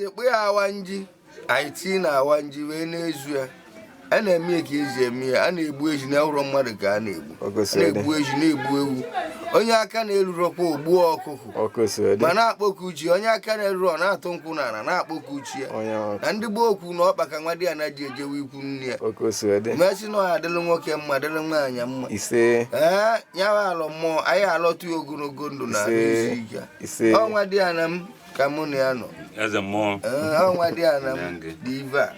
ekpe ya awa nji anyị tii na awa nji wee na-ezu ya a na-eme ya ka esi eme ya a na-egbu ehi na ụrọ mmadụ ka a na-egbu na-egbu ehi na-egbu ewu onye aka na-erurọkwa o gbuo ọkụkụ ma na-akpọku chi onye aka na-erurọ na-atụ nkwụ n'ana na-akpọku chi ya na ndị gboo kwu na ọkpa ka nwadiana ji ejewe ikwu na-ebu nne ya ọ ka o si dị m asị na ọ ya-adịrị nwoke mma dịrị nwaanyị mma ise ee ya bụ alọ mmụọ anyị alọtụ ya ogologo ndụ na isi ike ise ọ nwadiana m ka mụ na ya nọ eze mmụọ ee ọ nwadiana m dị ebe a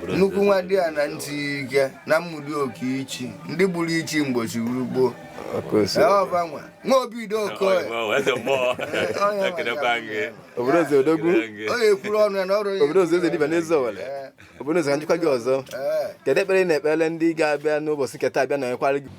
nnukwu nwadiana ntị ike na Ụmụdioka ichi ndị gburu ichi mgbe ichi gburu gboo ọkụ osi ọba nwa nwa obi dị oke ọya Eze mmụọ, ekelekwa gị. obodo eze odogwu obodo eze eze dibịa n'Eziowelle obodo eze ka njikwa gị ọzọ kedu ekpere ị na-ekpere ndị ga-abịa n'ụbọchị nketa abịa na ekwara gị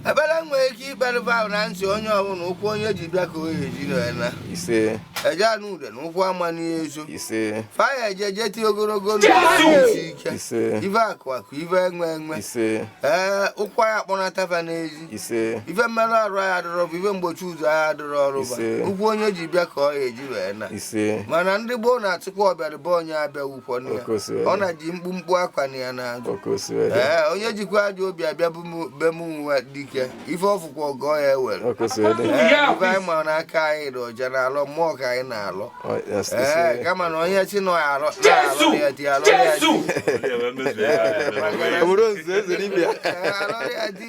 ebere nwere ike ikpere ahụ na ntị onye ọbụla ụkwụ onye ji bịa ka ọ ya-eji naa ise eje anụ ude na ụkwụ ama n'ezo ise fa ya-eje jeti ogologo ndụ isi ike ive akụ akụ ive enwe enwe ise ee ụkwụ ya-akpọnata fa n'ezi ise ife mmerụ arụ anyị adịrọ bụ ife mgbochi ụzọ anyị adịrọ ọrụ ba Ise. ụkwụ onye ji bịa ka ọ ya-eji wee naa ise mana ndị gboo na-atụkwa ọbịara be onye abịagbukwana ya Ọ ka o si wee dị. naje mkpumkpu apụkwana ya n'azụ ọ ka o si wee dị ee onye jikwa ajọ obi abịa bụ mụ- be m nwa dike ife ọ fụkwa ọgọ ya ewere ọ ka o si wee dị Ee, ife anyị ma na aka anyị dị ọcha na alọ mmụọ ka anyị na-alọ Ọ, yes, ee ise kama na onye si na ya alọ na-alọ ya di alọ ya di ọ bụrụ nze eze dibịa Ee, alọ ya di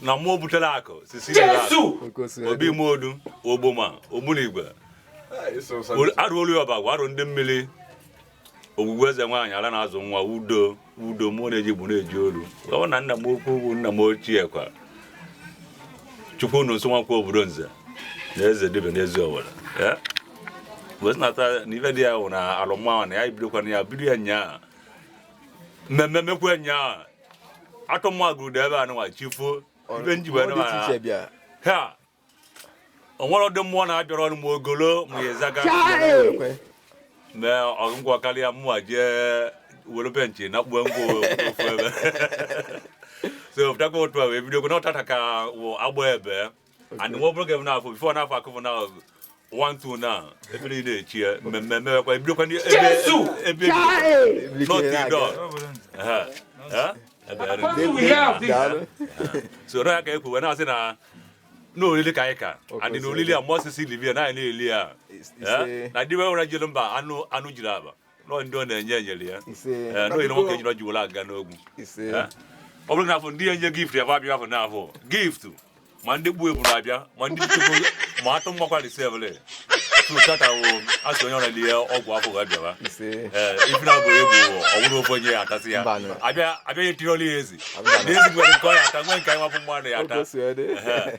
na mmụọ butere akụ sisi jesu obi modu ogboma ogbunigwe arụolu ya ọbagwa arụ ndị mmiri ogwugwu eze nwaanyị ala na-azụ nwa udo udo mụ na-eji bụ na-eji olu ọ na nna m okwu ugwu nna m ochie kwa chukwu unu nso Nwankwọ obodo nze na eze dibịa n'Eziowelle wezinata na ife dị ya bụ na alọ mmụọ na ya bidokwana ya bido ya nyaa mmemme mekwa nyaa atụmụ agụrụ ebe a nụwa chi foo ibe njibe nụwa ha o nwere ụdị mmụọ na-abịara ọnụ m ogolo ma ya ezaga mee ọgụgwọ karịa mụwa jee were benchị na kpuo ngwa ofu ebe so pụtakwa otu a wee bido okwu na ọ taata ka wụ agba ebe and nwa obere ga-ebu n'afọ bifo n'afọ akụfụ na one two na ebe niile echi ya mmemme emewekwa ebidokwa ndị ebe ebe not the door Ehe. Eh? Ebe ya dị. Daalụ. so na ya ka ekwu wee na-asị na na oriri ka anyị ka and na oriri a mọsịsị livia na anyị na-eli ya It's- it's Eh? a- na ndị nwere jiri mba anụ anụ jiri aba nọ ndị ọ na-enye enyere ya ise Ee, n'ihi na nwoke ejiri ọjụwụla aga n'ogwu ise Ee. ọ bụrụ na afọ ndị ya enye gift ya bụ abịa afọ n'afọ gift ma ndị gbuo eburu abịa ma ndị chukwu ma atụ mgbakwa risevle tụtatawo asị onye ọrịa ihe ọgwụ afọ ga bịawa ise ee ife na abụghị egbu ọwụrụ ofe onye ya atasị ya Mbanụ. abịa abịa ya etiri ọla ya ezi Mbanụ. na ezi nwere nke ọ ya ata nwee nke anyị nwapụ mmadụ ya ata ogosi ede Ehe.